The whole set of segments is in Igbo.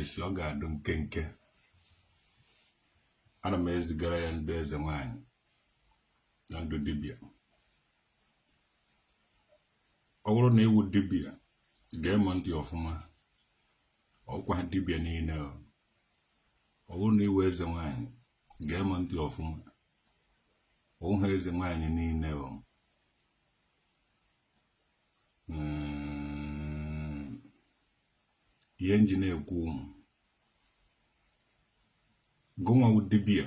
esi ọ ga-adụ nkenke ana m ezigara ya ndị eze nwanyị na ndụ dibịa ọ bụrụ na ị wụ dibịa gee m ntị ọfụma ọ wụkwaghị dibịa niile ọ bụrụ na ị wụ eze nwaanyị gee m ntị ọfụma ọ wụghị eze nwaanyị niile o mm, ihe nji na-ekwu mm gụnwa wụ dibia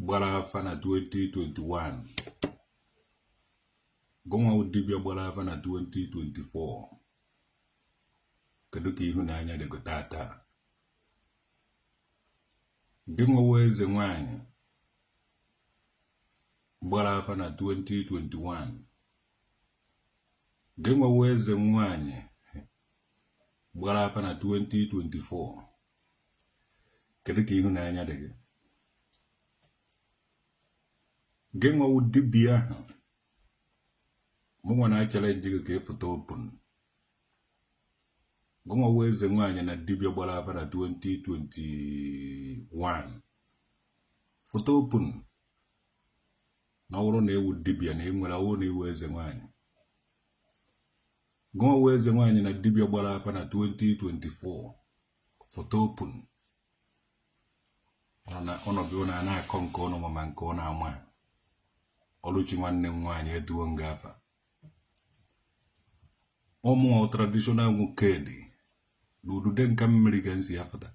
gbara afa na 2021 gụnwa wụ dibia gbara afa na 2024 kedu ka ihu na anya dị gụ tata gị nwa wụ eze nwanyị gbara afa na 2021 gị nwa wụ eze nwanyị gbara afa na 2024 kedu ka ihu na anya dị gị gị nwa wụ dibia ahụ mụnwa na-achallenge gị ka ị fụta open gụnwa wụ eze nwaanyị na dibịa gbara afa na 2021 fụta open na ọ bụrụ na ị wụ dibịa na enwere ọ wụ na ị wụ eze nwaanyị gụnwa wụ eze nwaanyị na dibịa gbara afa na 2024 fụta open ụnụ bịa na na-akọ nke ụnụ ma nke ụnụ ama ọlụchi nwanne m nwaanyị eduo nga afa ụmụ traditional nwoke dị na udude nka mmiri ga nsi ya fụta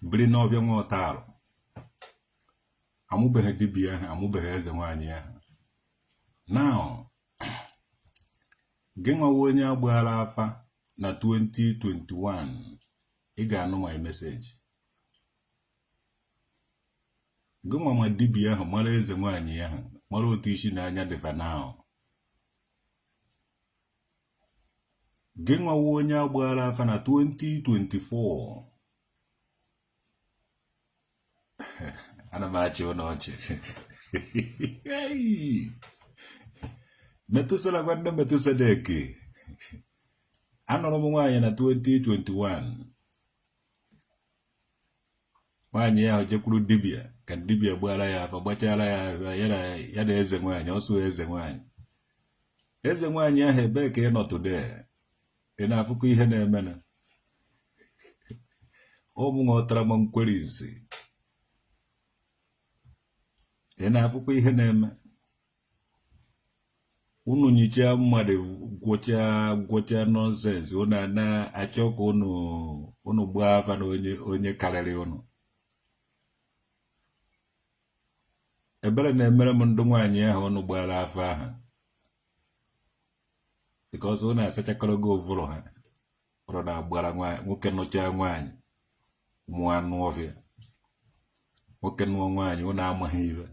biri n'ọbịa nwa ọta arụ amụbeghị dibia ahụ amụbeghị eze nwaanyị ahụ na gị nwa wụ onye a gbaara afa na 2021 ị ga-anụ my message gịnwa ma dibia ahụ mara eze nwaanyị ahụ mara otu isi na anya dị fa now gị nwa wụ onye a gbaara afa na 2024 ana m achị ụnụ ọchị metusala nwanne metusadek anụrụ m nwaanyị na 2021 nwaanyị ahụ jekwuru dibia ka dibia gbaara ya afa gbachara ya ya na eze nwaanyị ọ sụ eze nwaanyị eze nwaanyị ahụ ebee ka ị nọ today ị na-afụkwa ihe na-eme na ụmụ ghọtara ma nkwere isi ị na-afụkwa ihe na-eme unu nyichaa mmadụ gwọchaa gwọchaa nonsense unu na-achọ ka unu unu gbaa afa na onye onye karịrị unu ebere na-emere m ndị nwaanyị ahụ unu gbara afa ahụ because unu asachakwalago ụvụrụ ha ụrụ na-agbara nwoke nụchaa nwaanyị mụọ anụ ọfịa nwoke nụọ nwaanyị unu amaghị ife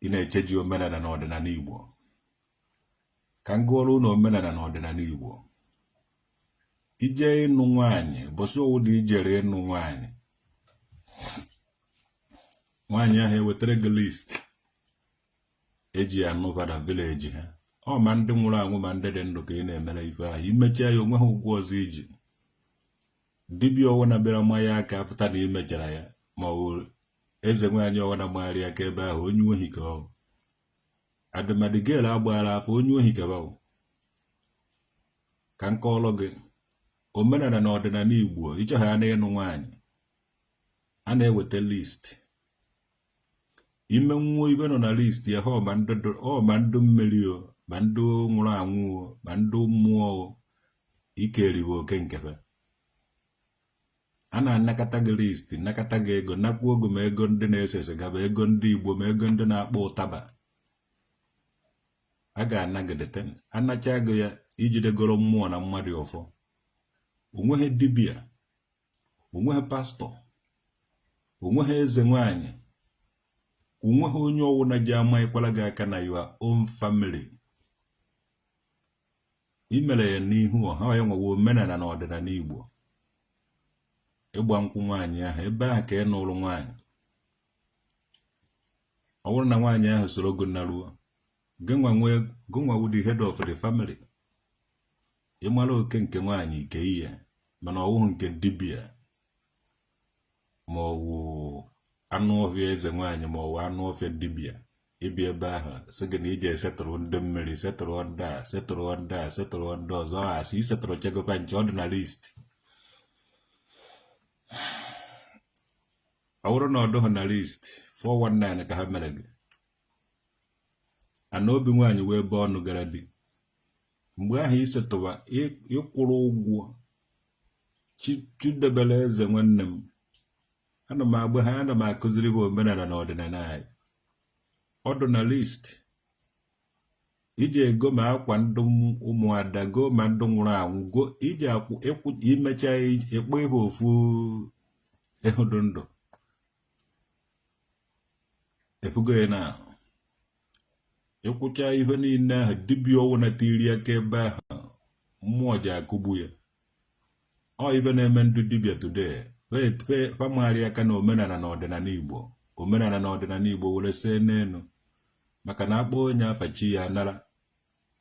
ị na-eche ji omenala na ọdịnala Igbo ka m gụọrọ unu omenala na ọdịnala Igbo ije ịnụ nwaanyị ụbọchị ọwụna i jere ịnụ nwaanyị nwaanyị ahụ ewetara gị list eji ya anụva na village ha ọ ma ndị nwụrụ anwụ ma ndị dị ndụ ka ị na-emere ife ahụ i mechaa ya o nweghị ụgwọ ọzọ i ji dibịa ọwụna bịara manye aka pụta na i mechara ya ma ọ bụ eze nwaanyị ọwụna magharị aka ebe ahụ onye ohi ka ọ adịmadị gel agbara afa onye ohi ka ọ wụ ka m kọọlụ gị omenala na ọdịnala igbo ịchọghị a na-anụ nwaanyị a na-eweta list i menwuo ife nọ na list ya ha ma ndị dụ- ọ ma ndị mmiri o ma ndị nwụrụ anwụ o ma ndị mmụọ o ike eriwe oke nkebe a na-anakọta gị list nakọta gị ego nakwuo ego ma ego ndị na-ese siga ma ego ndị igbo ma ego ndị na-akpọ ụtaba a ga-anagidete anacha gị ya i jidegoro mmụọ na mmadụ ọfọ o nweghị dibịa onweghị pastor onweghị eze nwanyị onweghị onye ọwụna ga-amanyekwara gị aka na your own family i mere ya n'ihu ọha yanwa wụ omenala na ọdịnala Igbo ịgba nkwụ nwaanyị ahụ ebe ahụ ka ị nụrụ nwaanyị ọ bụrụ na nwaanyị ahụ soro gị naruo gịnwa wụ the head of the family ị mara oke nke nwaanyị i kenye mana ọwụghị nke dibịa ma ọwụ anụ ọfịa eze nwaanyị ma ọwụ anụ ọfịa dibịa ịbịa ebe ahụ sị gị na i je esetụrụ ndị mmiri setụrụ ndị a setụrụ ndị a setụrụ ndị ọzọ a sị i setụrụ chegokwa nche ọ dị na list ọ bụrụ na ọ dụghị na list 419 ka ha mere gị ana obi nwaanyị wee ebe ọnụ gara bi mgbe ahụ isetụwa ịkwụrụ ụgwọ Chidiebere eze nwanne m ana m agba ha ana m akụziri bụ omenala na ọdịnala anyị ọ dụ na list iji ego ma akwa ndụ ụmụada go ma ndụ nwụrụ anwụ go iji imecha ịkpọ ịbụ ofu ehi dụ ndụ ị fụgo ya na ịkwụcha ihe niile ahụ dibịa ọwụna tiri aka ebe ahụ mmụọ ji akụgbu ya ọ ibe na-eme ndị dibịa today fa mara aka na omenala na ọdịnala igbo omenala na ọdịnala igbo were see n'elu maka na akpọ onye afa chi ya nara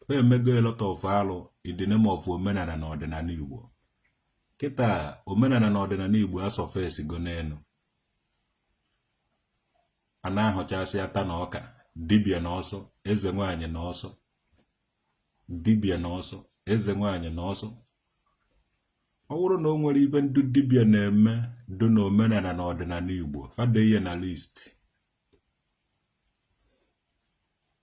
ha emego a lot of alụ in the name of omenala na ọdịnala Igbo kịta omenala na ọdịnala Igbo asurfacego n'elu a na-ahụchasị ata na ọka dibịa na ọsọ eze nwaanyị na ọsọ dibịa na ọsọ eze nwaanyị na ọsọ ọ bụrụ na o nwere ibe ndị dibịa na-eme dị na omenala na ọdịnala Igbo fa dee ya na list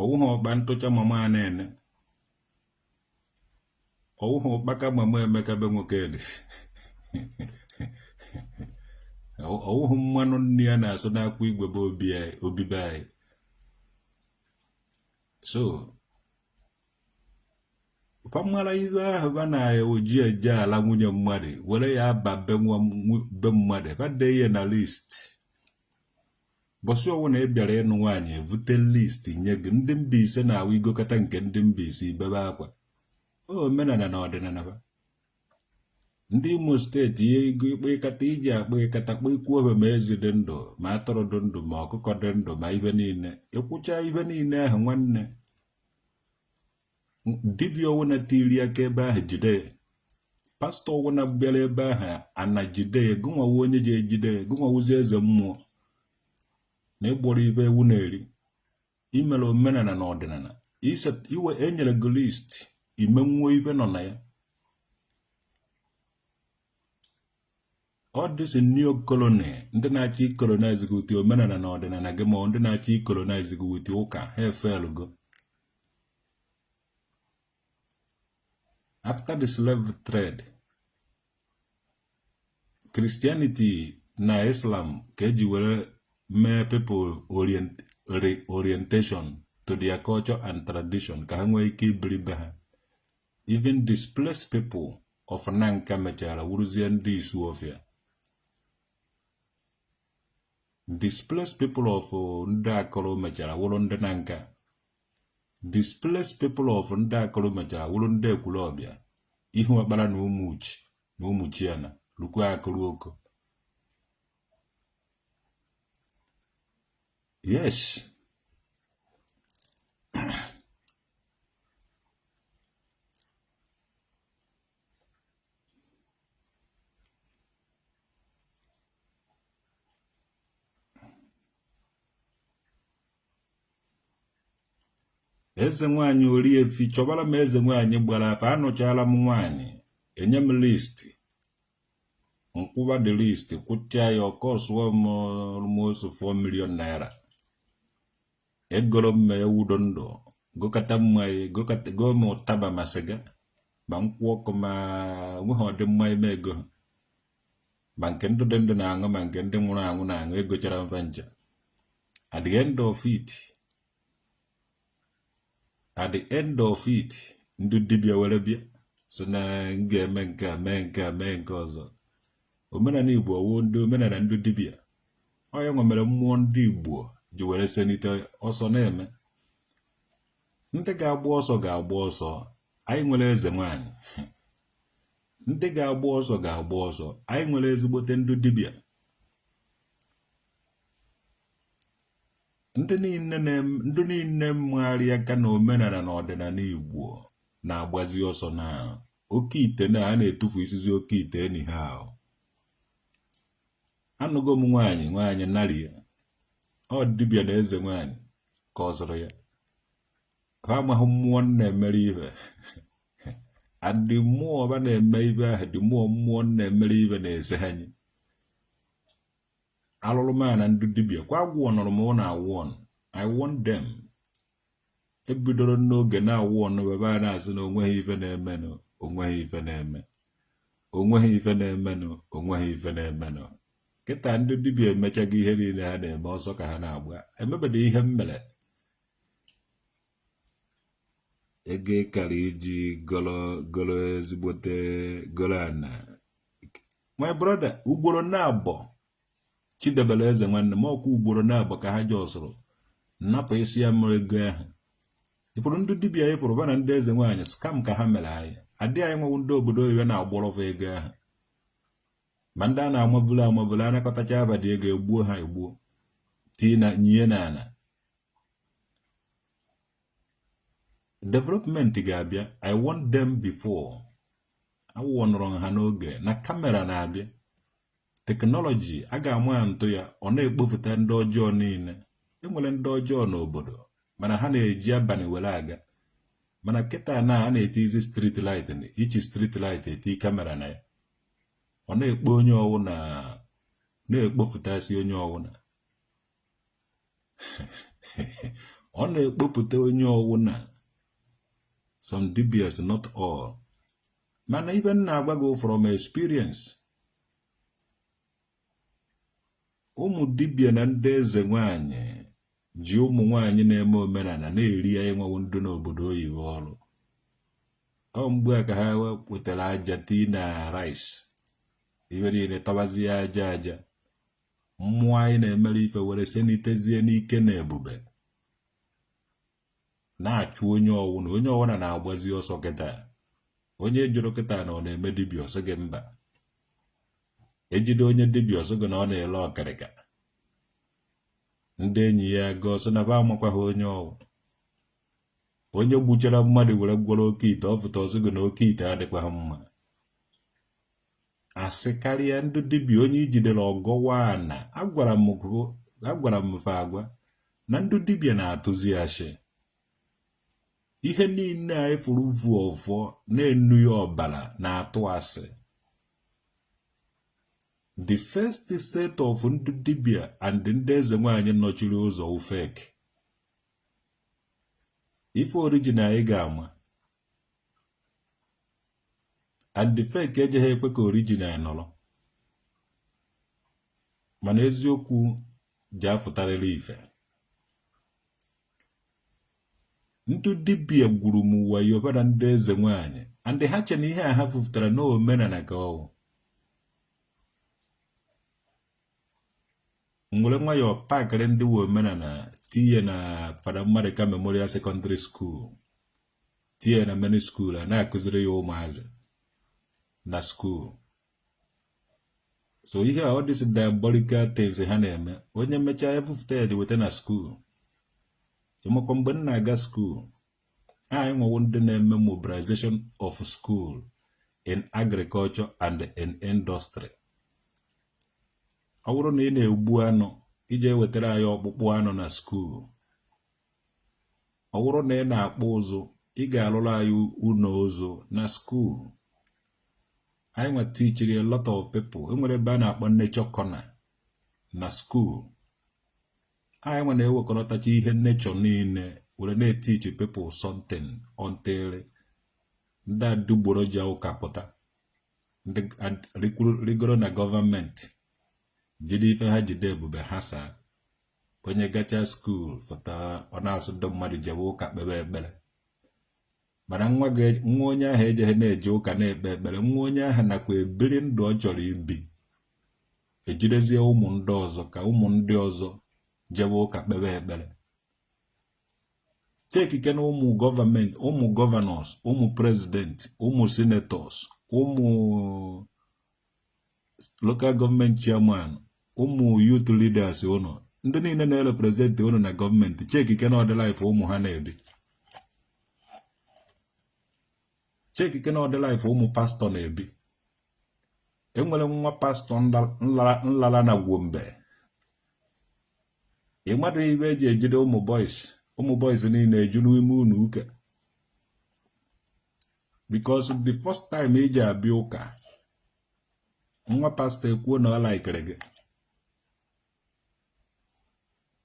ọwụghị ọkpa ntụcha mama Anene ọwụghị ụkpaka mama Emeka be Nwokedi ọwụghị mmanụ nri ya na-asụ n'akwụ igwe bụ obi be anyị so fa mara ibe ahụ ba na o ji eje ala nwunye mmadụ were ya aba be mmadụ fa dee ya na list Bọsị ọwụna ị bịara ịnụ nwaanyị evute list nye gị ndị Mbaise na-awụ i gokata nke ndị Mbaise i bebe akwa ọ bụ omenala na ọdịnala ha ndị Imo steeti ihe igo ịkpa ịkata iji akpa ịkata kpa ikwu obe ma ezi dị ndụ ma atụrụ dị ndụ ma ọkụkọ dị ndụ ma ibe niile ịkwụcha ibe niile ahụ nwanne dibịa ọwụna tiri aka ebe ahụ jide ya pastọ ọwụna bịara ebe ahụ ana ejide ya gụnwa wụ onye ji ejide ya gụnwa wụzị eze mmụọ na ịgbọrọ ibe ewu na-eri imere omenala na ọdịnala iwe enyere gị list i menwuo ibe nọ na ya all this neo colony ndị na-achọ icolonize gị with omenala na ọdịnala gị ma ndị na-achọ icolonize gị with ụka ha efailgo after the slave trade Christianity na Islam ka eji were mee people orientation to their culture and tradition ka ha nwee ike ibiri be ha Even displaced people of Nanka mechara wụrụzie ndị Isuofia. Displaced people of ndị Akọrọ mechara wụrụ ndị Nanka. Displaced people of ndị Akọrọ mechara wụrụ ndị Ekwulọbịa, Ihuọkpala na Ụmụchi na Ụmụchiana, lukwa Akọrọ Oko. Yes. eze nwaanyị oriefi chọbara m eze nwaanyị gbara afa anụchaala m nwaanyị enye m listi m kwụba the list kwụchaa ya ọ kọsụọ m almost 4 million naira egoro m ma ewu dị ndụ gokata mmanya goo ma ụtaba ma sịga ma nkwụ ọkụ ma nweghị ụdị mmanya m egoghị ma nke ndị dị ndụ na-aṅụ ma nke ndị nwụrụ anwụ na-aṅụ egochara m fa ncha at the end of it ndị dibịa were bịa sị na m ga-eme nke a mee nke a mee nke ọzọ omenala igbo ọ wụ ndị omenala ndị dibịa ọ nya nwa mere mmụọ ndị Igbo ji were selite ọsọ na-eme ndị ga-agba ọsọ ga-agba ọsọ anyị nwere eze nwaanyị ndị ga-agba ọsọ ga-agba ọsọ anyị nwere ezigbote ndị dibịa ndị niile mmegharị aka na omenala na ọdịnala Igbo na-agbazi ọsọ na oke ite na a na-etufusizi oke ite na ihe ahụ anụgo m nwaanyị nwaanyị narị ya ọ dibịa na eze nwaanyị ka ọ zụrụ ya ha amaghị mmụọ na-emere ibe adị mmụọ ọba na-eme ibe ahụ dị mmụọ mmụọ na-emere ibe na-eze anyị alụrụ m na ndị dibịa kwa agwọ nọrọ m na-awarn I warn them ebidoro n'oge na-awarn ụnụ ebe a na-asị na onweghị ife na-emenụ onweghị ife na-eme onweghị ife na-emenụ onweghị ife na-emenụ kịta ndị dibịa emechago ihe niile ha na-eme ọsọ ka ha na-agba emebede ihe m mere ego ị kara iji golo ezigbote golo ana my brother ugboro naabọ Chidebere eze nwanne m ọkwa ugboro naabọ ka ha ji ọsụrụ napụ isi ya mụrụ ego ahụ ịpụrụ ndị dibịa anyị pụrụ bana ndị eze nwaanyị scam ka ha mere anyị adị anyị nwewu ndị obodo oyibo na-agbọrọ fa ego ahụ ma ndị a na-amabulu amabulu anakọtacha abadị ego egbuo ha egbuo tii na nyie na ala development ga-abịa i warn them before a warnụrụ ha n'oge na kamera na-abịa teknọlọji a ga-ama ya ntụ ya ọ na-ekpofụta ndị ọjọọ niile enwere ndị ọjọọ n'obodo mana ha na-eji abalị were aga mana kịta na a na-etizi street light each street light eti kamera na ya ọ na-ekpo onye ọwụna na-ekpopụtasị onye ọwụna ọ na-ekpopụta onye ọwụna some dibịas not all mana ife m na-agwa gị from experience ụmụ dibia na ndị eze nwanyị ji ụmụ nwanyị na-eme omenala na-eri ya ịnwawo ndị n'obodo oyibo ọrụ ọ mgbe a ka ha wetara aja tii na rice ibe niile tabazi ya aja aja mmụọ anyị na-emere ife were sanitizie n'ike na ebube na-achụ onye ọwụna onye ọwụna na-agbazi ọsọ kịta onye a jụrụ kịta na ọ na-eme dibịa ọ sị gị mba ejide onye dibịa ọ sị gị na ọ na-ele okirika ndị enyi ya ga-asị na ba amakwaghị onye ọ wụ onye gbuchara mmadụ were gwọrọ oke ite ọ fụta ọ sị gị na oke ite adịkwaghị mma asị karịa ndị dibịa onye ijidere ọ gọwa ana agwara m gụ- agwara m fa agwa na ndị dibịa na-atụzi asị ihe niile anyị fụrụ vu ọfọ na-enu ya ọbara na-atụ asị the first set of ndị dibịa and ndị eze nwaanyị nọchiri ụzọ wụ fake ife original anyị ga-ama and the fake ejeghị ekwe ka original nọrọ mana eziokwu ji afụtarịrị ife ndị dibia gwuru m wayo bara ndị eze nwanyị and ha che na ihe a ha fufutara n'omenala ka ọ wụ nwere nwayọọ pakịrị ndị nwe omenala tinye na Father Mmadụka memorial secondary school tinye na many school a na-akụziri ya ụmụazị na school so ihe a these diabolical things ha na-eme onye mechaa efufụta ya dị weta na school ịmakwa mgbe m na-aga school anyị nwa bụ ndị na-eme mobilization of school in agriculture and in industry ọ bụrụ na ị na-egbu anụ ị je-ewetara anyị ọkpụkpụ anụ na skuul ọ bụrụ na ị na-akpụ ụzụ ị ga-arụrụ anyị ụlọ ụzụ na skuul anyị nwa tichiri a lot of people enwere ebe a na-akpọ nature corner na skuul anyị nwa na-ewekọrọtacha ihe nature niile were na-etichi people something until ndị adịgboroja ụka pụta ndị rigoro na gọọmenti jide ife ha jide ebube ha saa onye gacha skuul fụta ọ na-asị ndị mmadụ jebe ụka kpebe ekpere mana nwa onye ahụ ejeghị na-eje ụka na-ekpe ekpere nwa onye ahụ nakwa ebiri ndụ ọ chọrọ ibi ejidezie ụmụ ndị ọzọ ka ụmụ ndị ọzọ jebe ụka kpebe ekpere chekikene ụmụ gọọmenti ụmụ governors ụmụ president ụmụ senators ụmụ local government chairman ụmụ youth leaders ụmụ ndị niile na-erepresent ụnụ na gọọmenti chekikene ụdị life ụmụ ha na-ebi chekikene ụdị life ụmụ pastọ na-ebi enwere nwa pastọ m lara na Gombe ị madụ ife eji ejide ụmụ boys ụmụ boys niile eju n'ime ụnọ ụka because the first time i ji abịa ụka nwa pastọ ekwuo na ọ laikere gị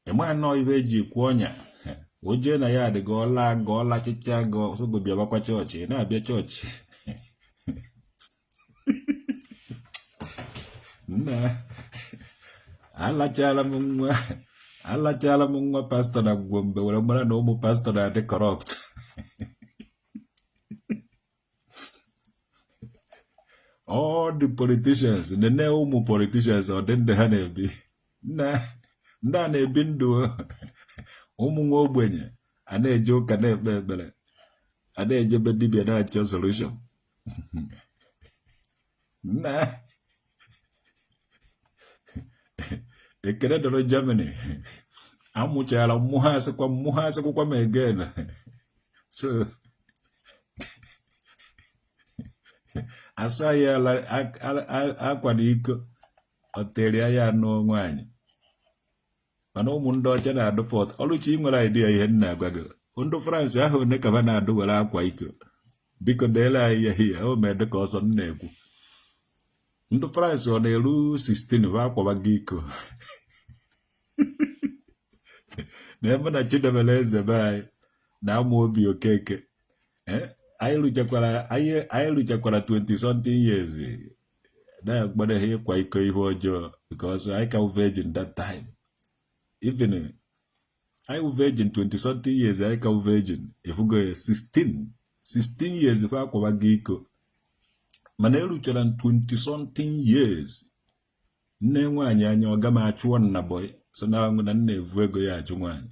ị manụ ife eji ekwe ọnya o jee na ya adị gị ọ laa gị ọ lachịcha gị ọ sị gị bịabakwa chọọchị ị na-abịa chọọchị nna alachala m nwa alachala m nwa pastọ na Gombe were mara na ụmụ pastọ na-adị corrupt all the politicians nene ụmụ politicians ụdị ndụ ha na-ebi nna ndị a na-ebi ndụ ụmụ nwa ogbenye a na-eje ụka na-ekpe ekpere a na-ejebe dibia na-achọ solution nna ekele dịrị Germany amụchara mmụọ ha asịkwa mmụọ ha asịkwakwa m again so asụ anyị akwa na iko ọ tere ya n'onwe anyị mana ụmụ ndị ọcha na-adụ fọt ọlụchi nwere idea ihe m na-agwa gị ndị France ahọ one ka ba na-adụ were akwa iko biko deere anyị ya ihe o mee dịka ọ sọ m na-ekwu ndị France ọ na-eru 16 ba akwawago iko nee mụ na Chidiebere eze be anyị na Amaobi Okeke eh, anyị ruchakwara 20 something years na-agbana ha ịkwa iko ihe ọjọọ because anyị ka wụ virgin that time even anyị wụ virgin 20 something years anyị ka wụ virgin ị fụgo ya 16 16 years fa akwawago iko mana eruchara 20 something years nee nwaanyị anya ọga m achụọ m na boy so na anwụ na m na-evu ego ya achụ nwaanyị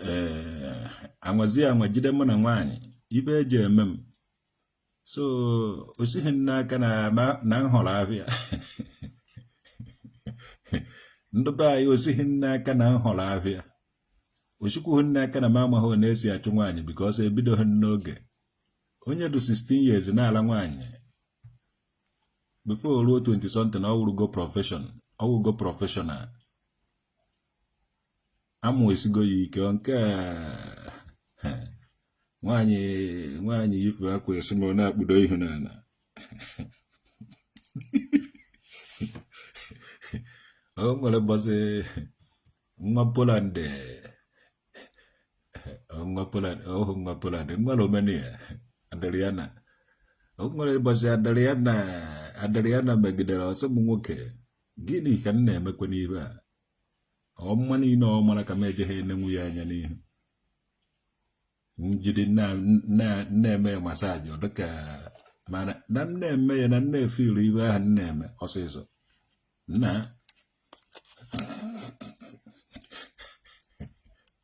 ee eh, a nwazịa anwa jide mụ na nwaanyị ife eji eme m so o sighi m n'aka na na- na m họrọ ahịa ndị be anyị o sighi m n'aka na m họrọ ahịa o sikwughị m n'aka na m amaghị one esi achụ nwaanyị because ebidoghị m n'oge onye dị 16 years na-ala nwaanyị before o ruo 20 something ọ wụrụgo profession ọ wụgo professional amụ esigo ya ike nke nwaanyị nwaanyị ife akwa esi ma ọ na-akpụdo ihu n'ala o nwere mbọsị nwa Poland nwa Poland ọhọ nwa Poland nwa Romania Adriana o nwere mbọsị Adriana Adriana megidere ọ sị m nwoke gịnị ka m na-emekwa n'ibe a ọmụma niile ọ mara ka m ejeghị enenwu ya anya n'ihu m jide na-eme ya massage ọ dịka mana na m na-eme ya na m na-efe ilu ife ahụ m na-eme ọsịsọ na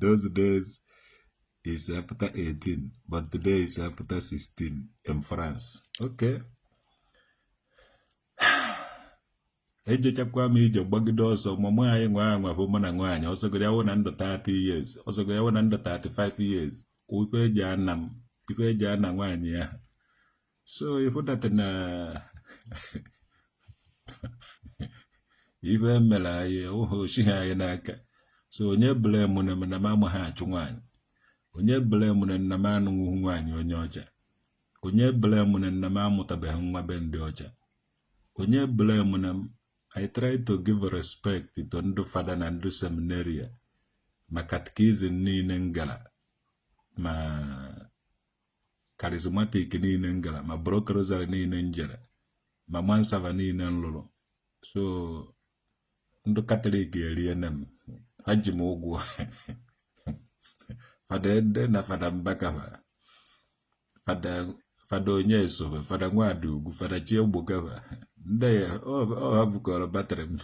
those days is after 18 but today is after 16 in France okay ejechakwa m ije gbagide ọsọ ma mụ anyị nwa anwa fụ mụ na nwaanyị ọ sọgoro ya wụ na m dụ 30 years ọ sọgoro ya wụ na m dụ 35 years ife eji ana m ife eji ana nwaanyị ya so ị hụ that na ife e mere anyị ahụ o sighi anyị n'aka so onye blamune m na m amaghị achụ nwaanyị onye blamune m na m anụghị nwaanyị onye ọcha onye blamune m na m amụtabeghị nwa be ndị ọcha onye blamune m I try to give respect to ndị fada na ndị seminarian ma catechism niile m gara ma charismatic niile m gara ma block rosary niile m jere ma mass server niile m lụrụ so ndị katọlik eriene m ha ji m ụgwọ fada ede na fada Mbaka va fada fada onye esobe fada Nwadiugwu fada Chiegboka va ndị ya ọ ha bukọrọ batrị m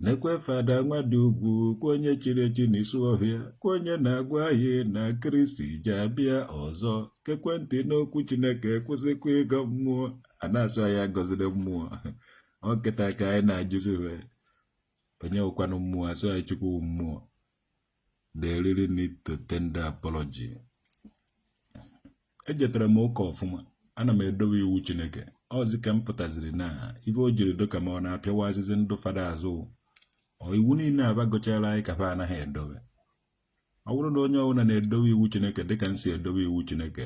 Nekwe fada Nwadiugwu kwa onye chiri echi n'Isuofia kwa onye na-agwa anyị na kristi ja-abịa ọzọ gekwe ntị n'okwu chineke kwụsịkwa ịgọ mmụọ a na-asụ anyị agọziri mmụọ ọ kịta ka anyị na-ajụzi onye wụkwanụ mmụọ asụ anyị chukwu wụ mmụọ They really need to tender apology. Ejetara m ụka ọfụma, ana m edowe iwu Chineke. Ọzi ka m pụtaziri na ibe o jiri doka ma ọ na-apịawa azịzị ndụ fada azụ. Ọ iwu niile a ba gụchara anyị ka fa anaghị edowe. Ọ bụrụ na onye ọbụla na-edowe iwu Chineke dịka m si edowe iwu Chineke,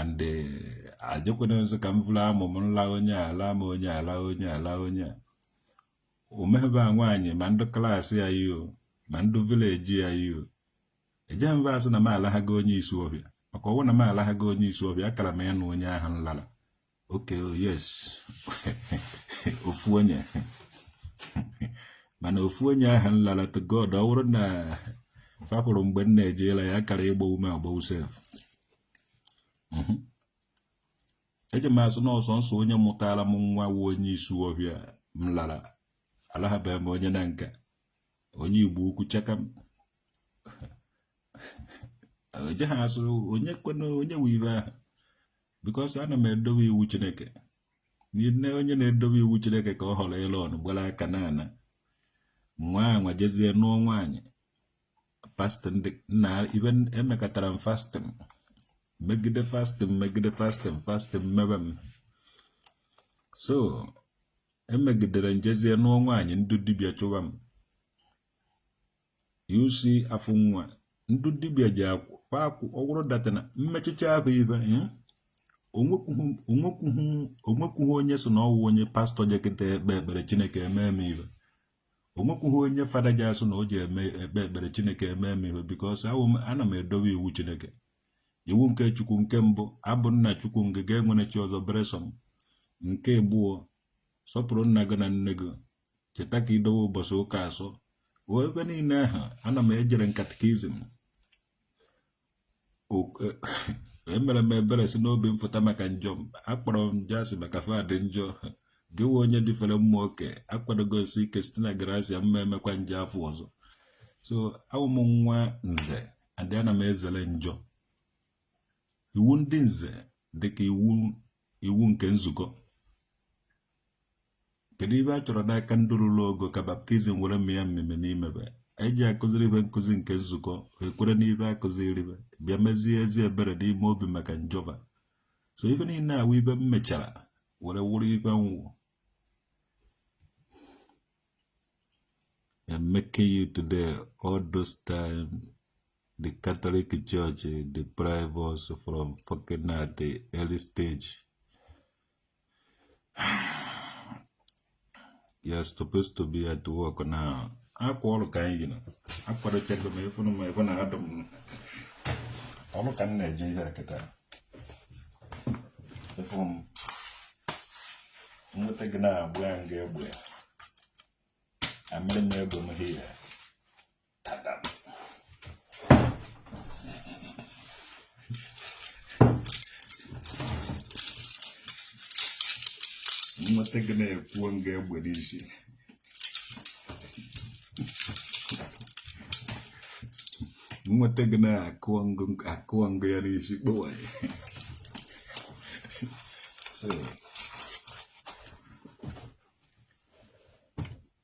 and eh, ajekwana nso ka m vuru amụ m nla onye ala ma onye ala onye ala onye a omebe a nwaanyị ma ndị class ya yi o ma ndị village ya yi o eje mba asị na m alaghago onye Isuofia maka ọwụ na m alaghago onye Isuofia akara m ya nụ onye ahụ m lara okay oh yes ofu onye mana ofu onye ahụ m lara to God ọ bụrụ na fa fụrụ mgbe m na-ejela ya kara ịgbawu m agbawu sef mhm. eje m asụ na ọ sọnsọ onye mụtara m nwa wụ onye Isuofia m lara alahabeghị m onye Nanka onye Igbo-Ukwu chaka m eje ha asụ onye kwena onye wive ahụ because ana m edobe iwu chineke nne onye na-edobe iwu chineke ka ọ họrọ elon gbara aka n'ala nwa nwa jezie nụọ nwaanyị fasting na even emekatara m fasting megide fasting megide fasting fasting mmebe m so emegidere m jezie nụọ nwaanyị ndị dibịa chụwa m you see afụ nwa ndị dibịa ji akwụ pakwụ ọ wụrụ that na mmechicha ahụ ibe hmm? onwekwughị onye sụ na ọwụ onye pastọ jekịta ekpe ekpere chineke eme m ibe onwekwughị onye fada ji asụ na o ji eme ekpe ekpere chineke eme m ibe because ana m edobe iwu chineke iwu nke chukwu nke mbụ abụ m nna chukwu gị enwene chi ọzọ beresọ m nke abụọ sọpụrụ nna gị na nne gị cheta ka i dowe ụbọchị ụka asọ wee ebe niile ahụ ana m ejere katikizm emere m ebere si n'obi m fụta maka njọ m akpọrọ m njọ asị maka fa dị njọ gị wụ onye dịfere mma oke akwadogo m si ike site na garasia m ma emekwa njọ afụ ọzọ so awụ m nwa nze and ana m ezere njọ iwu ndị nze dịka iwu iwu nke nzukọ kedu ibe a chọrọ n'aka ndị ruru ogo ka baptizim were mịa amịmị n'ime be a ja-akụziri be nkụzi nke nzukọ ekwere n'ibe a kụziri be bịa mezie ezi ebere n'ime obi maka njọ ba so ife niile a wụ ibe m mechara were wụrụ ibe m wụ I'm making you today all those time the Catholic Church deprive us from fucking at the early stage. You're supposed to be at work now. Akwa ọrụ ka anyị gị nọ akwadochago m ị fụnụ m ebe na adụ m ọrụ ka m na-eje ihe a kịta ịfụ m nweta gị na-agba m gị egbe amịrị m egbe m here nweta gị na-akụọ m gị egbe n'isi nweta gị na-akụọ m gị ya n'isi kpọwaa ya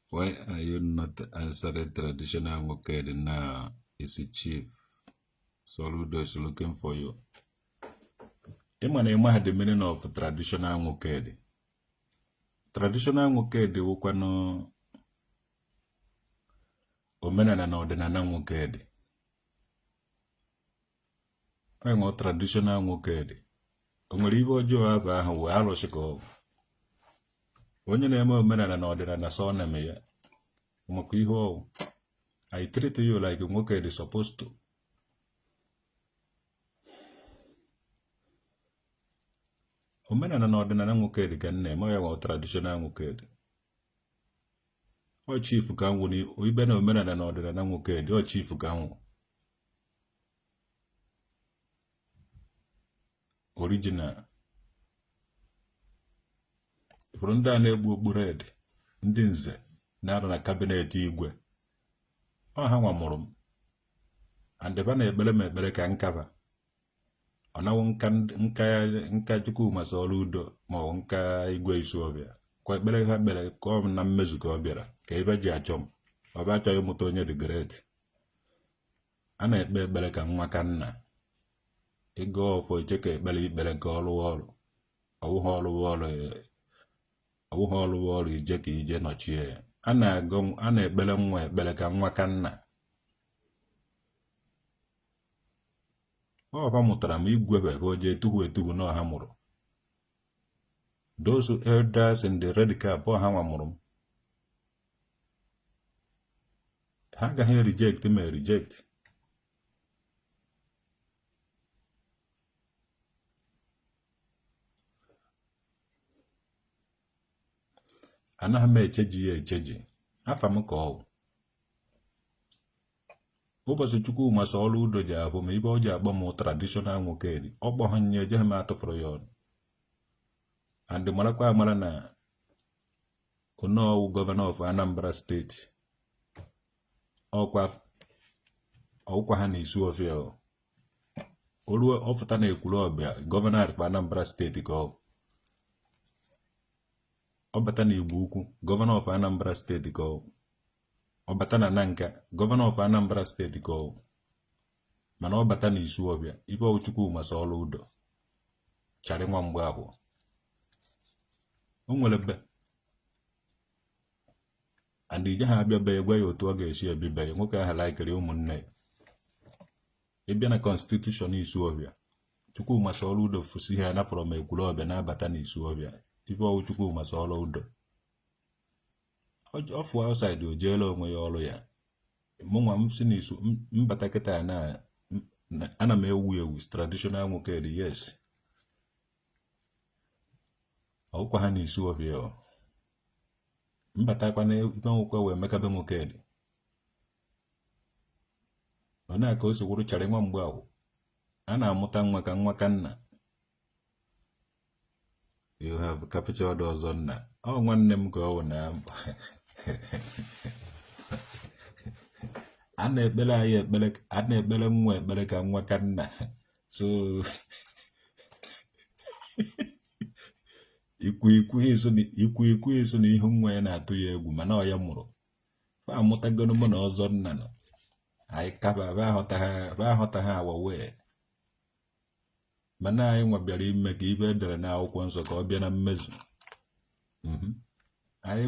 Why are you not answering traditional Nwokedi now isi chief Soludo is looking for you ị ma na ị maha the meaning of traditional Nwokedi traditional Nwokedi wụkwanụ omenala na ọdịnala Nwokedi enwe traditional Nwokedi o nwere ibe ọjọọ abụ ahụ wee arụsị ka ọ bụ onye na-eme omenala na ọdịnala so na-eme ya maka ihe ọ wụ I treat you like Nwokedi supposed to omenala na ọdịnala Nwokedi ka m na-eme ya nwe traditional Nwokedi ọ chief ka m wụ ibe na omenala na ọdịnala Nwokedi ọ chief ka m wụ original ị fụrụ ndị a na-ekpu okpu red ndị nze na-arụ na kabinet igwe ọ ha nwa mụrụ m and ibe ha na-ekpere m ekpere ka m kaba ọ na-awụ m ka Chukwuma Soludo ma ọ bụ m ka Igwe Isuọfịa kwa ekpere ha kpere ka ọ na mmezu ka ọ bịara ka ibe e ji achọ m ọ bụ achọ ịmụta onye dị great a na-ekpe ekpere ka nwa ka nna ị gọọ ọfọ iche ka ekpere i kpere ka ọ rụwa ọrụ ọ wụghị ọ rụwa ọrụ ọ wụghị ọ rụwa ọrụ i jee ka i je nọchie ya a na-ekpere nwa ekpere ka nwa ka nna ọ fa mụtara m igwebe ka o jee tuhu etuhu na ọ ha mụrụ those elders in the red cap ọ ha nwa mụrụ m ha agaghị reject m ereject anaghị m echeji ya echeji afa m ka ọ ụbọchị Chukwuma Soludo je-ahụ m ibe ọ je-akpọ m traditional Nwokedi ọ kpọghị ya ejeghị m atụfụrụ ya ọnụ and ị marakwa amara na ọ na-awụ gọvanọ of Anambra steeti ọkwa ọkwa ha na Isuọfịa o ruo ọ fụta na Ekwulọbịa gọvanọ of Anambra steeti ka ọ ọ bata na Igbo Ukwu gọvanọ of Anambra steeti ka ọ ọ bata na Nanka gọvanọ of Anambra steeti ka ọ mana ọ bata n'Isuọfịa ibe ọ wụ Chukwuma Soludo Charlie nwa Mgbafọ o nwere be and ije ha abịa be gwa ya otu ọ ga-esi ebibe ya nwoke ahụ laikiri ụmụnne ya ị bịa na kọnstitushọn Isuọfịa Chukwuma Soludo fụsi ha na from Ekwulọbịa na-abata n'Isuọfịa ibe ọ wụ Chukwuma Soludo ọ fụ outside o jeela onwe ya ọrụ ya mụnwa m si n'Isu mbata kịta na ana m ewu ewu traditional Nwokedi yes ọkwa ha na Isuọfịa ọ m batakwa na ibe nwoke wee mekabe Nwokedi ọ na-aka o si wụrụ Charlie nwa Mgbafọ a na-amụta nwa ka nwa ka nna you have captured Ọzọnna ọ nwanne m ka ọ wụ na a na-ekpere anyị ekpere a na-ekpere nwa ekpere ka nwa ka nna so ikwu eso na ihu nwa ya na-atụ ya egwu mana ọ ya mụrụ fa amụtagoro mụ na Ọzọnna nọ anyị ka ba ahụta ha awa wee mana anyị nwa bịara ime ka ibe edere na akwụkwọ nsọ ka ọ bịa na mmezu mhm. anyị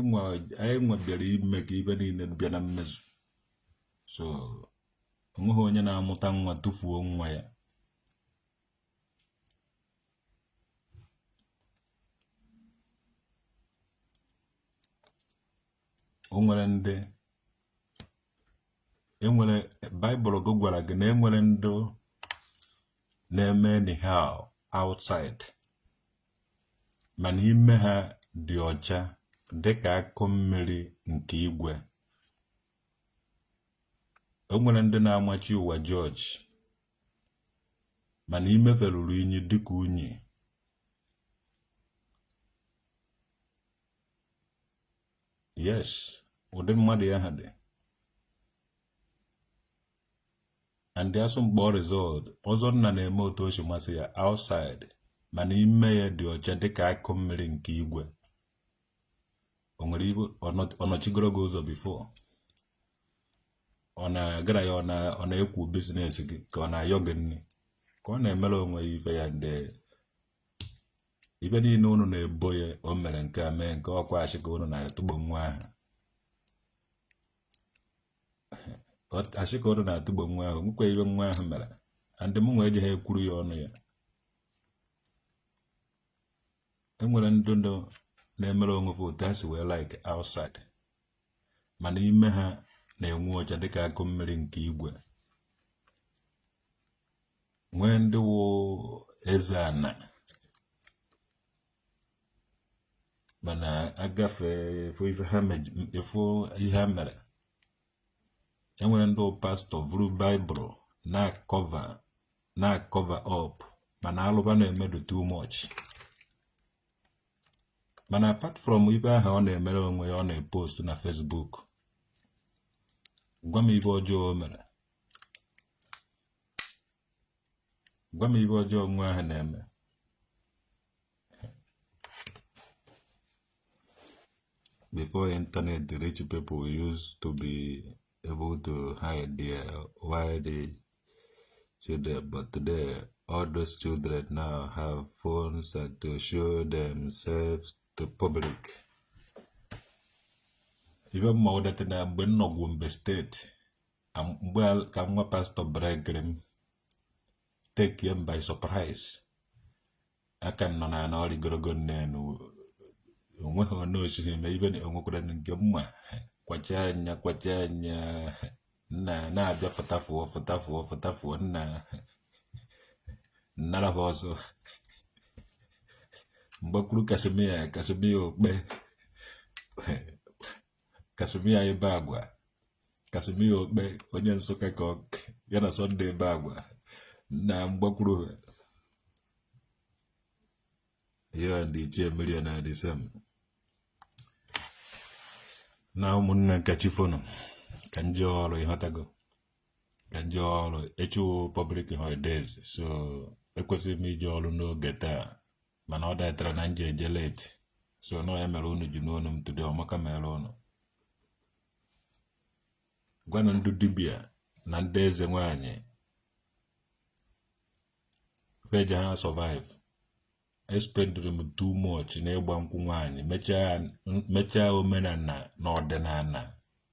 nwa bịara ime ka ibe niile bịa na mmezu so onweghị onye na-amụta nwa tụfuo nwa ya o nwere ndị enwere baịbụl gị gwara gị na enwere ndị na-eme anyhow outside mana ime ha dị ọcha dịka akụ mmiri nke igwe o nwere ndị na-amachi ụwa jọji mana ime fa ruru inyi dịka unyi yes ụdị mmadụ ya ha dị and the asụmkpọ result Ọzọnna na-eme otu o si masị ya outside mana ime ya dị ọcha dịka akụ mmiri nke igwe o nwere ebe ọ nọchigoro gị ụzọ before ọ na-agara ya ọ na-ekwu business gị ka ọ na-ayọ gị nri ka ọ na-emere onwe ya ife ya ndị ibe niile unu na-ebo ya o mere nke a mee nke ọkwa asị ka unu na-atụgbo nwa ahụ asị ka unu na-atụgbo nwa ahụ nwekwa ibe nwa ahụ mere and mụ nwa ejighị ekwuru ya ọnụ ya enwere ndị ndụ na-emere onwe ha otu ha si wee like outside mana ime ha na-enwu ọcha dịka akụ mmiri nke igwe nwee ndị wụ eze ana mana agafe efu ife ha mej- efu ihe ha mere enwere ndị wụ pastọ vuru baịbụl na-cover up mana alụ fa na-eme dụ too much mana apart from ibe ahụ ọ na-emere onwe ya ọ na-epost na Facebook gwa m ibe ọjọọ o mere gwa m ife ọjọọ nwa ahụ na-eme before internet the rich people used to be able to hide their wild children but today all those children now have phones and to show themselves to public ife m ma wụ that na mgbe m nọ Gombe State mgbe ka nwa pastọ bregre m take him by surprise aka nọ na na ọrịgorogo nne na onweghị onye osighị eme ife na o nwekwara nke m ma kwacha anya kwacha anya nna na-abịa fụtafuo fụtafuo fụtafuo nna nnara ha ọzọ mgbakwuru Casmir Casmir Okpe Casmir ebe agwa Casmir Okpe onye Nsụka ka ya na Sunday ebe agwa na mgbakwuru ya ndị ichie millionaires m na ụmụnna ka chi fo nu ka m jee ọrụ ị ghọtago ka m jee ọrụ echi wụ public holidays so ekwesịrị m ije ọrụ n'oge taa mana ọ datara na m je-eje late so na ọ ya mere unu ji nụ onu m today ọmaka mere unu gwanụ ndị dibịa na ndị eze nwanyị fa ejeghị a-survive e-spendịrị m too much n'ịgba nkwụ nwaanyị m mechaa omenala na ọdịnala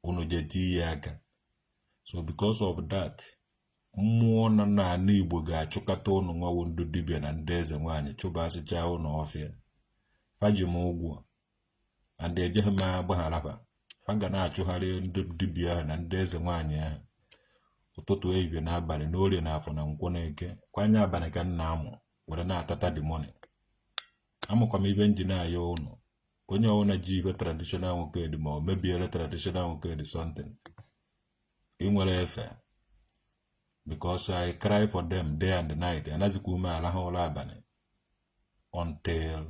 unu je tinye ya aka so because of that mmụọ nọ n'ala igbo ga-achụkọta unu nwa wụ ndị dibịa na ndị eze nwaanyị chụbasịchaa unu ọfịa fa ji m ụgwọ and ejeghị m agbaghara fa fa ga na-achụgharị ndị dibịa ahụ na ndị eze nwaanyị ahụ ụtụtụ ehihie na abalị na orie na afọ na nkwọ na eke kwa anya abalị ka m na-amụ were na-atata the money ọ wụkwanụ ife m ji na-ayọ unu onye ọbụla ji ife traditional nwoke dị ma ọ mebiere traditional nwoke dị something ị nwere efe because I cry for them day and night anazịkwa m alahụ ụra abalị until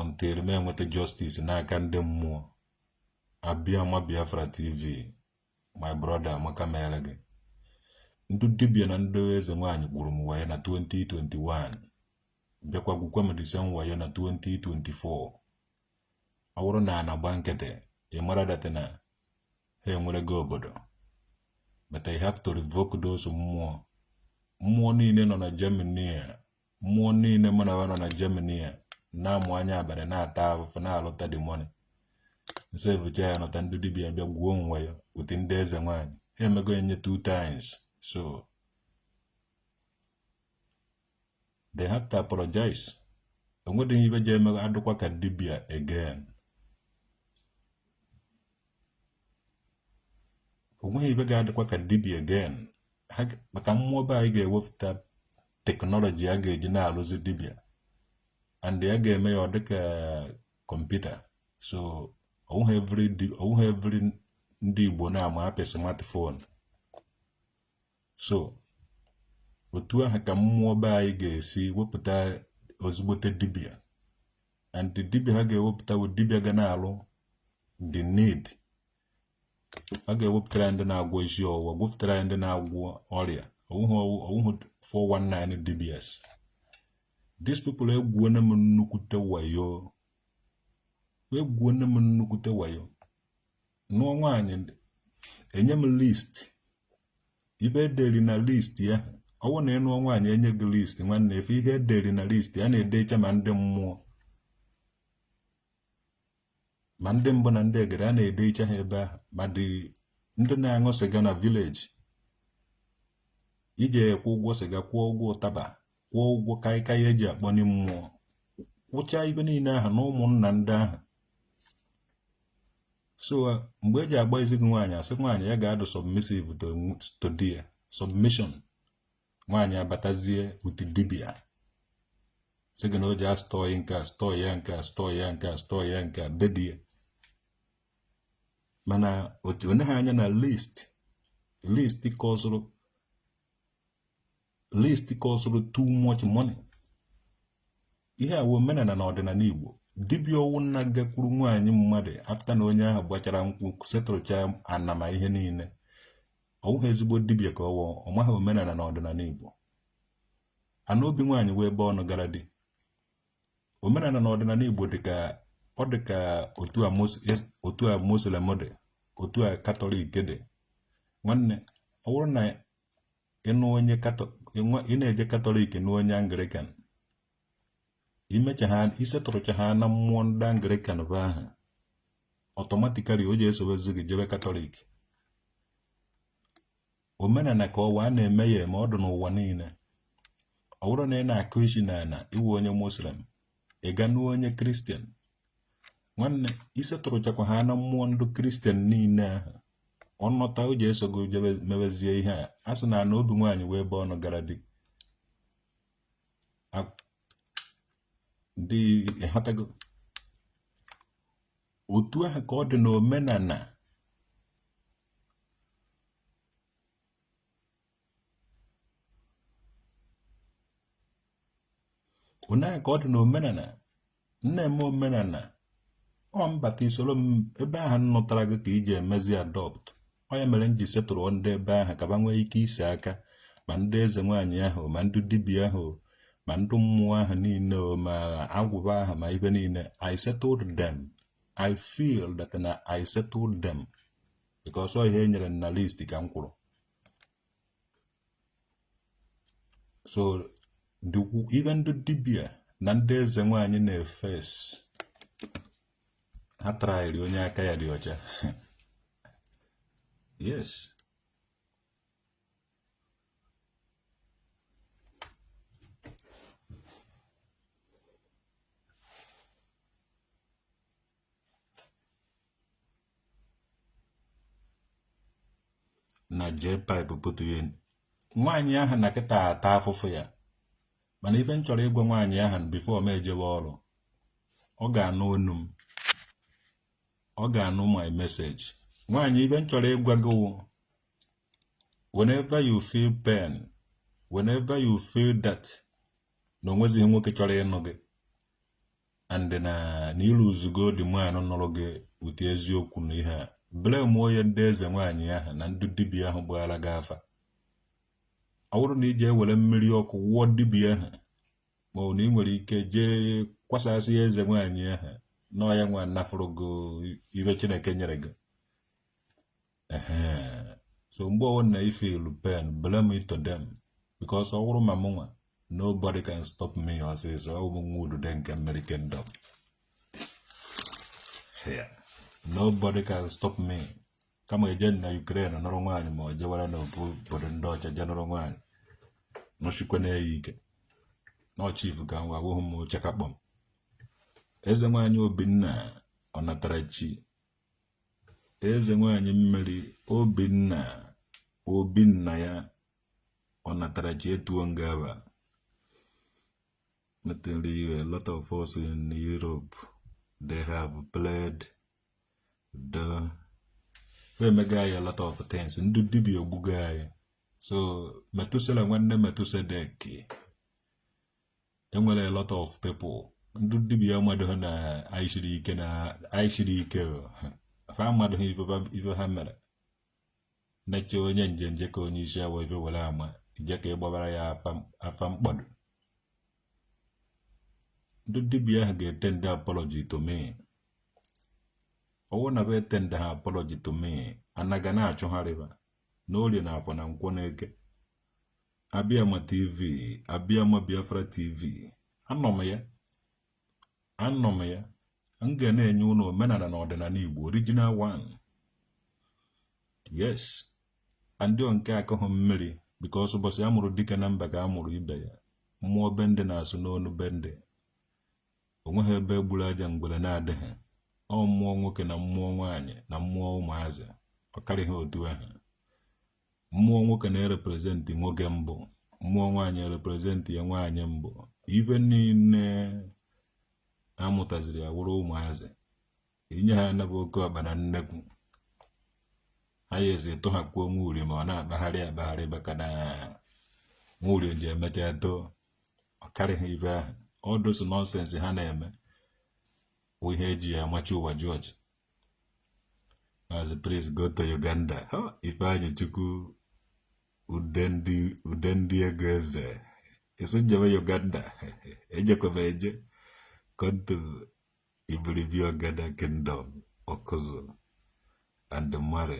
until m enweta justice n'aka ndị mmụọ Abịama Biafra TV my brother amaka mere gị ndị dibịa na ndị eze nwaanyị gwuru m wayo na 2021 bịakwa gwukwa m the same wayo na 2024 ọ bụrụ na a na-agba nkịtị ị mara that na ha enwere gị obodo but I have to revoke those mmụọ mmụọ niile nọ na Germany a mmụọ niile mụ na ha nọ na Germany a na-amụ anya abalị na-ata afụfụ na-alụta the money m sevuchaa ya nọta ndị dibia bịa gwuo m wayo with ndị eze nwaanyị ha emego enye two times so they have to apologize o nwedịghị ibe ji eme adụkwa ka dibia again o nweghị ibe ga-adịkwa ka dibia again maka mmụọ be anyị ga-ewepụta teknọlọji a ga-eji na-alụzi dibia and ya ga-eme ya ọ dịka kọmputa so ọ wụghị every ndị Igbo na-ama apị smartphone so otu ahụ ka mmụọ be anyị ga-esi wepụta ezigbote dibịa and the dibịa ha ga-ewepụta bụ dibịa ga na-alụ the need a ga-ewepụtara anyị ndị na-agwọ isi ọwụwa ga-ewepụtara anyị ndị na-agwọ ọrịa ọ wụhụ 419 dibias these people egwuona m nnukwute wayo egwuona m nnukwute wayo nụọ nwaanyị enye m list ibe ederi na list ahụ ọ wụ na ị nụọ nwaanyị enye gị list nwanne ị fụ ihe ederi na list a na-edecha ma ndị mmụọ ma ndị mbụ na ndị egede a na-edecha ha ebe ahụ ma dị ndị na-aṅụ sịga na village ị ji akwụ ụgwọ sịga kwụọ ụgwọ ụtaba kwụọ ụgwọ kaikai eji akpọni mmụọ kwụchaa ibe niile ahụ na ụmụnna ndị ahụ so uh, mgbe eji agba ezi gị nwaanyị asị nwaanyị ya ga-adụ submissive to di ya submission nwaanyị abatazie otu dibia sị gị na o ji astọị nke astọị ya nke astọị ya nke astọị ya nke be di ya mana o neghị anya na list list kọsụrụ list kọsụrụ too much money ihe a wụ omenala na ọdịnala Igbo dibịa ọwụna gakwuru nwaanyị mmadụ afta na onye ahụ gbachara nkwụ setụrụcha ana ma ihe niile ọ wụghị ezigbo dibịa ka ọ wụ ọ maghị omenala na ọdịnala Igbo ana obi nwaanyị wụ ebe ọ nụgara di omenala na ọdịnala Igbo dịka ọ dị ka otu a e, muslim dị otu a katọlik dị nwanne ọ bụrụ na ị nụ onye ị na-eje katọlik nụọ onye anglikan i mechaa i setụrụcha ha na mmụọ ndị anglikan bụ aha automatically o ji esobezi gị jebe katọlik omenala ka ọ wụ a na-eme ya eme ọ dị n'ụwa niile ọ bụrụ na ị na-akụ isi n'ala ị wụ onye muslim ị ga-anụ onye kristian nwanne i settlechakwa ha na mmụọ ndị kristian niile ahụ ọnọta o ji eso gị jebe mebezie ihe a a sị na ana obi nwaanyị wụ ebe ọ nụgara di A- dị ịghọtago otu ahụ ka ọ dị n'omenana otu ahụ ka ọ dị na omenana m na-eme omenana ọ mbata i soro m ebe ahụ m nụtara gị ka i ji emezi adopt ọ ya mere m ji settle ndị ebe ahụ ka ba nwee ike ise aka ma ndị eze nwaanyị ahụ ma ndị dibịa ahụ ma ndị mmụọ ahụ niile ma agwụ ba ahụ ma ibe niile I settled them I feel that na I settled them because ọ ihe e nyere na list ka m kwụrụ so even ndị dibịa na ndị eze nwaanyị na-efes ha traịrị onye aka ya dị ọcha yes na jpipe pụtụ ya nwaanyị ahụ nọ kịta ata afụfụ ya mana ibe m chọrọ ịgwa nwaanyị ahụ before m ejebe ọrụ ọ ga-anụ onu m ọ ga-anụ my message nwaanyị ibe m chọrọ ịgwa gị whenever you feel pain whenever you feel that na o nwezighị nwoke chọrọ ịnụ gị and na na ị lụzugo di nwaanyị nụrụ gị ụdị eziokwu na ihe a blame ya ndị eze nwaanyị ahụ na ndị dibịa ahụ gbara gị afa ọ bụrụ na ị je ewere mmiri ọkụ wụọ dibịa ahụ ma ọ na ị nwere ike jee kwasasịa eze nwaanyị ahụ na ọ ya nwa nafụrụ gị ibe chineke nyere gị so mgbe ọ wụna ị feel pain blame it to them because ọ wụrụ ma mụ nwa nobody can stop me ọsịsọ ọ bụ nwa udude nke mmiri kingdom nobody can stop me kama e je na Ukraine nụrụ nwaanyị ma ọ jewara n'ofu obodo ndị ọcha je nụrụ nwaanyị nọchikwa na-eyi ike n'ọchif ka nwa awụghị m chakakpọm eze nwaanyị obinna ọnatarachi eze nwanyị mmiri obinna obinna ya ọnatarachi etuo nga aba m tell you a lot of us in Europe they have played they've emego anyị a lot of things ndị dibịa ogbugo anyị so metusela nwanne metusedeki enwere a lot of people ndị dibia mmadụ ha na anyị siri ike na anyị siri ike fa mmadụ ha ife ha mere neche onye nje nje ka onye isi awọ ife were ama je ka ịgbabara ya afa mkpọdụ ndị dibia ahụ ga-etenda apology to me ọwụ na be etendaha apology to me anaga na-achụgharị ba n'orie na afọ na nkwọ na eke Abịama TV Abịama Biafra TV anọ m ya anọ m ya m ga na-enye unu omenala na ọdịnala Igbo original one yes ndị nke akụghị mmiri because ụbọchị a mụrụ dike na mba ka a mụrụ ibe ya mmụọ be ndị na-asụ n'onu be ndị o nweghị ebe e gburu aja ngwere na-adịghị ọ mmụọ nwoke na mmụọ nwaanyị na mmụọ ụmụazị ọ karịghị otu ahụ mmụọ nwoke na-ereprezentị nwoke mbụ mmụọ nwaanyị ereprezentịa nwaanyị mbụ ibe niile amụtaziri ya wụrụ ụmụazị inye ha anabụ oke ọkpa na nnekwu ha ya esi tụhakwuo nwa uri ma ọ na-akpagharị akpagharị maka na nwa uri je emecha too ọ karịghị ibe ahụ all those nonsense ha na-eme bụ ihe eji ya amachi ụwa jọji as a priest go to Uganda Ifeanyi Chukwu ude ndị ego eze eso njem Uganda ejekwa m eje come to Ibiribi Ogada Kingdom Okuzu and Mare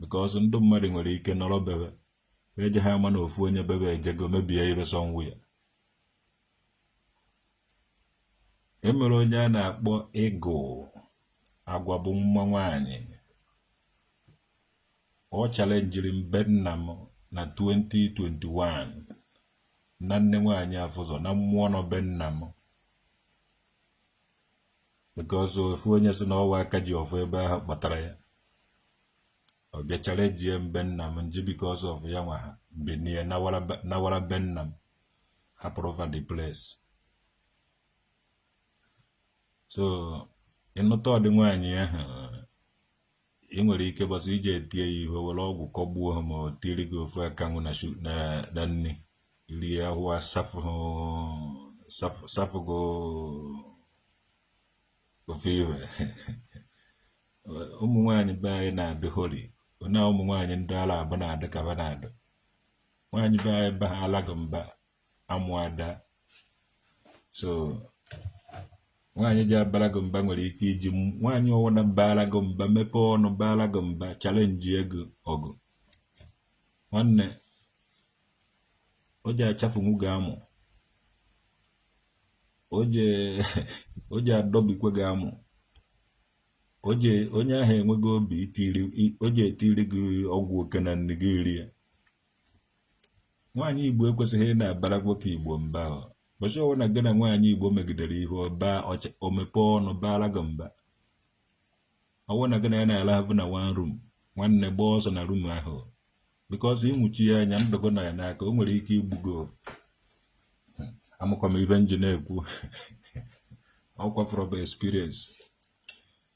because ndị mmadụ nwere ike nọrọ be be eje ha ama na ofu onye be be ejego mebie ibe sọnwụ ya emere onye a na-akpọ ịgụ agwa bụ nwa nwanyị ọ chalenjiri m be nna m na 2021 na nne nwanyị afụzọ na mmụọ nọ be nna m because ofu onye si na ọ wụ aka ji ọfọ ebe ahụ kpọtara ya ọ bịa chalenjie m be nna m m ji because of ya nwa ha binie nawara be nna m hapụrụ ba the place so ịnụta ụdị nwaanyị ahụ ị nwere ike ụbọsị ị je etie ya ihe were ọgwụ kọgbuo ha ma ọ tiri gị ofe akanwụ na nri rie ahụ asafụgo ofe iwe ụmụ nwaanyị be anyị na-adị holy na ụmụ nwaanyị ndị ala abụ na-adị ka ba na-adị nwaanyị be anyị ba ha alaghị mba amụ ada so nwaanyị ja-abara gị mba nwere ike iji nwaanyị ọwụna bara gị mba mepee ọnụ bara gị mba challenge gị ọgụ nwanne ọ ja-achafụnwu gị amụ ọ ja-adọbikwa gị amụ onye ahụ enweghị obi o je-etiri gị ọgwụ oke na nni gị rie nwaanyị igbo ekwesịghị ị na-abara nwoke igbo mba ụbọchị ọwụna gị na nwaanyị igbo megidere ihe ọ baa o mepee ọnụ baara gị mba ọwụ na gị na ya na-alahụ na one room nwanne gbaa ọsọ na room ahụ because ị mụchie anya ndụ gị nọ ya n'aka o nwere ike igbu gị amakwa m ibe m ji na-ekwu ọkwa from experience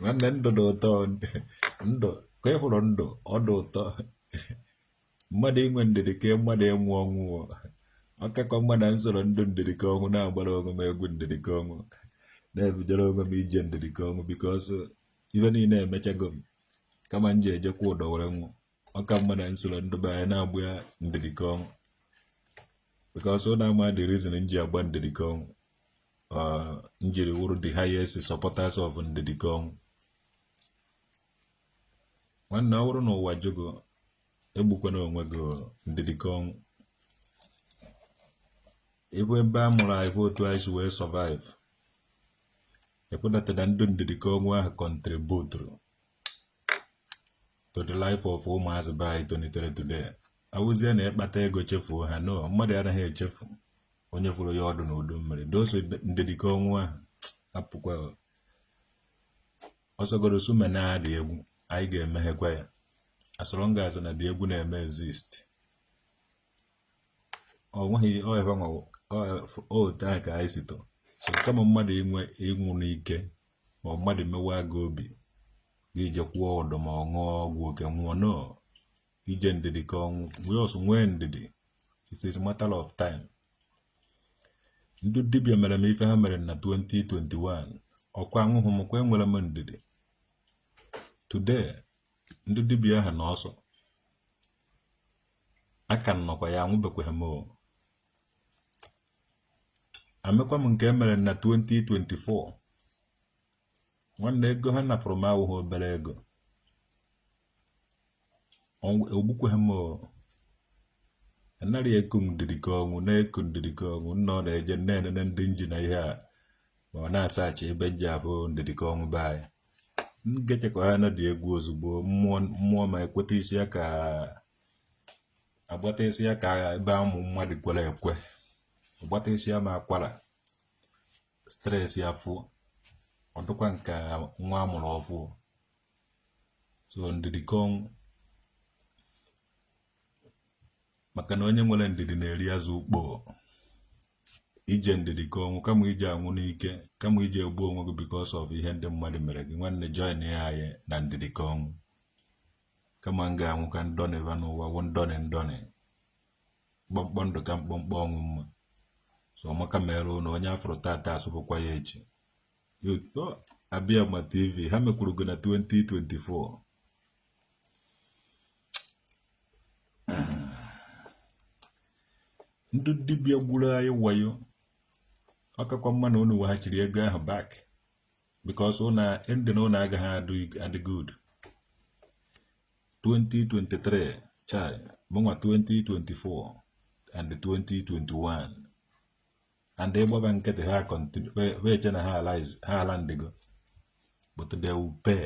nwanne ndụ dị ụtọ ndụ ka ị fụrụ ndụ ọ dị ụtọ mmadụ inwe ndidi ka mmadụ ịnwụ ọnwụ ọ kakwa mma na m soro ndị ndidi ka ọnwụ na-agbara onwe m egwu ndidi ka ọnwụ na-ebidoro onwe m ije ndidi ka ọnwụ because ife niile emechago m kama m je-eje kwụọ ụdọ were nwụ ọ ka mma na m soro ndị be anyị na-agba ya ndidi ka ọnwụ because ọ na-ama the reason m ji agba ndidi ka ọnwụ m jiri wụrụ the highest supporters of ndidi ka ọnwụ nwanne ọ bụrụ na ụwa jụ gị egbukwana onwe gị ndidi ka ọnwụ ebe ebe a mụrụ anyị bụ otu anyị si wee survive ekwedata na ndị ndidi ka ọnwụ ahụ contributuru to the life of ụmụazị be anyị tonitere today awụzie na ị kpata ego chefuo ha no mmadụ anaghị echefu onye fụrụ ya ọdụ na udu mmiri doso ndidi ka ọnwụ ahụ apụkwa ọsọgoro sume na-adị egwu anyị ga-emeghekwa ya as long as na dị egwu na-eme exist ọ nweghị otu a ka anyị si too so kama mmadụ ịnwụ n'ike ma ọ mmadụ mewa gị obi gị je kwụọ ụdọ ma ọ ṅụọ ọgwụ oke nwụọ no ị jee ndidi ka ọnwụ nwee ọsụ nwee ndidi it's a matter of time ndị dibịa mere m ife ha mere na 2021 ọkwa anwụhụ m kwa enwere m ndidi today ndị dibịa ahụ nọ ọsọ aka m nọkwa ya anwụbekwaghị m amekwa m nke emere na 2024 nwanne ego ha napụrụ m awụghị obere ego ogbukweghị m anaghị eku ndidi ka ọnwụ na-eku ndidi ka ọnwụ nna ọ na-eje na-enene ndị nji na ihe a ma ọ na-asachi ebe nji abụ ndidi ka ọnwụ be anyị m gechekwa ha na dị egwu ozugbo mmụọ ma ekweta isi ya ka agbatịsị ya ka ebe ụmụ mmadụ kwere ekwe agbatịsị ya ma akwara stress ya fụọ ọ dịkwa ka nwa amụrụ ọfụụ so ndidi ka ọnwụ maka na onye nwere ndidi na-eri azụ ukpo ije ndidi ka ọnwụ kama ije anwụ n'ike kama ije egbu onwe gị because of ihe ndị mmadụ mere gị nwanne join ya anyị na ndidi ka ọnwụ kama m ga-anwụ ka m dọnịva n'ụwa wụ ndọnị ndọnị mkpọmkpọ ndụ ka mkpọmkpọ ọnwụ mma so ọmaka mere ụnụ onye afụrọ tata asụbụkwa ya echi Abiama tv ha mekwuru gị na 2024 ndị dibịa gburu anyị wayo ọkakwa mma na unu weghachiri ego ahụ back because ụnụ ending ụnụ agaghị adị good 2023 chai mụnwa 2024 and 2021 and ị gbaba nkịtị ha continue wee che na ha alandigo but they will pay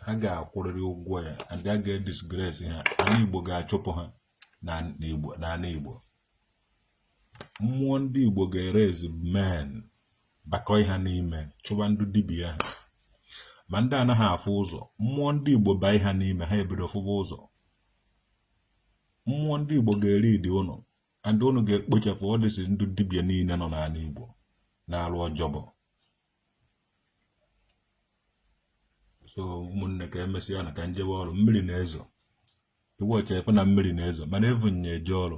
ha ga-akwụrịrị ụgwọ ya and a ga-edisgrace ha ala Igbo ga-achụpụ ha n'ala Igbo mmụọ ndị Igbo ga-eraise men bakọ ha n'ime chụba ndị dibia ha ma ndị anaghị afụ ụzọ mmụọ ndị Igbo baa ha n'ime ha ebido fụba ụzọ mmụọ ndị Igbo ga-elead ụnụ and ụnụ ga-ekpochapụ all these ndị dibia niile nọ n'ala Igbo na-arụ ọjọbọ so ụmụnne ka emesịa na ka m jebe ọrụ mmiri na-ezo ị watch ị fụ na mmiri na-ezo mana evu m ya eje ọrụ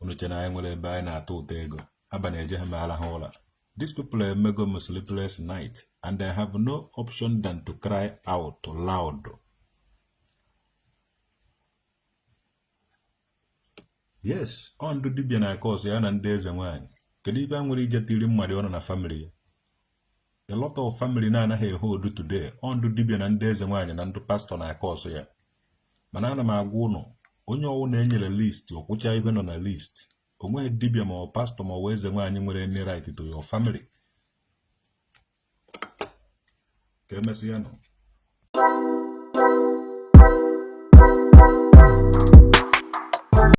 unu che na anyị nwere ebe anyị na-atụta ego abalị ejeghị m arahụ ụra these people emego m sleepless night and I have no option than to cry out loud yes ọ ndụ dibịa na-acause ya na ndị eze nwaanyị kedu ive ha nwere ije tiri mmadụ ọnụ na family ya a lot of family na-anaghị ehold today ọ ndụ dibịa na ndị eze nwaanyị na ndị pastọ na-acause ya mana ana m agwa ụnụ onye ọwụna enyere list ọ kwụcha ive nọ na list onweghị dibịa ma ọ pastọ ma ọ eze nwaanyị nwere any right to your family ka emesịa nụ